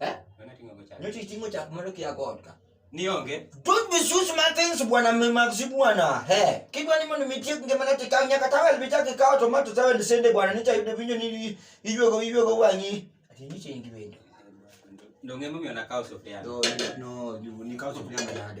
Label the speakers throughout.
Speaker 1: Eh? Nani ating'o go chak? Nyocha iting'o chak mondo kia
Speaker 2: kodka. Nionge. Don't
Speaker 1: misuse my
Speaker 2: things bwana mmaxi bwana. He. Kidwa ni mondo mitie ngima na tikao nyaka tawel bitaki kao tomato tawel sende bwana nicha yudo vinyo ni iywego iywego wanyi. Ati nyiche ingi wendo. Ndio
Speaker 1: ngemo mimi anakaa sufuria. No, no,
Speaker 2: ni kao sufuria mbele hadi.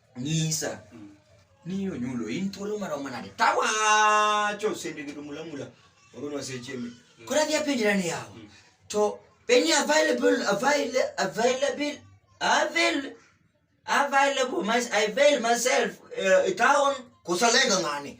Speaker 2: nyisa mm. ni onyulo in thuolo maromo nade tawacho sende gido mula mula oronwa seche mi mm. kora dhi apenjra ni yawa mm. to any available available available avail available my, I avail myself uh, town kusalenga ngani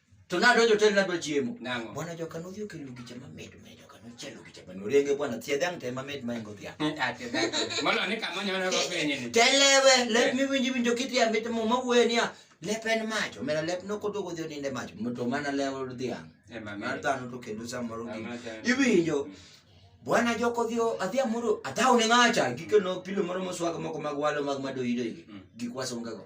Speaker 2: to nadonjo hotel nadwa chiemo Nang'o? bwana joka nodhi
Speaker 1: okelo
Speaker 2: gicha mamit ma joka nochelo gicha ma norenge bwana thiedhe ang' te mamit ma ingo dhiang' Ate dhako.
Speaker 1: Mondo ni kama nyono go penye ni. telewe lep
Speaker 2: miwinji winjo kithia mit mo mawuoye niya lep en mach omera lep nokodogo dhi oninde mach to mana lewo dhiang' Eh, mami. mar dhano to kendo samoro gi Mama dhano. iwinjo bwana joko dhi o- adhi amoro adhaw ne ng'acha gikeno pilo moro moswaga moko mag walo mag madoyidoigi Mm. gik wasungago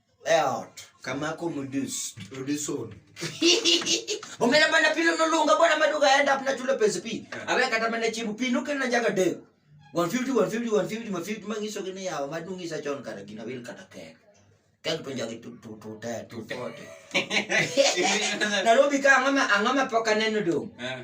Speaker 2: Eot, kama ko mudus, muduson. Omera bana pilo no lunga bwana maduga end up na chulo pesa pi. Awe kata mana chibu pi nuke na jaga de. 150 150 150 150 mangiso gine yawa madungi sa chon kata gina wil kata kek. Kek to jagi tu tu tu te tu te. Nairobi ka angama angama poka neno dong. Eh.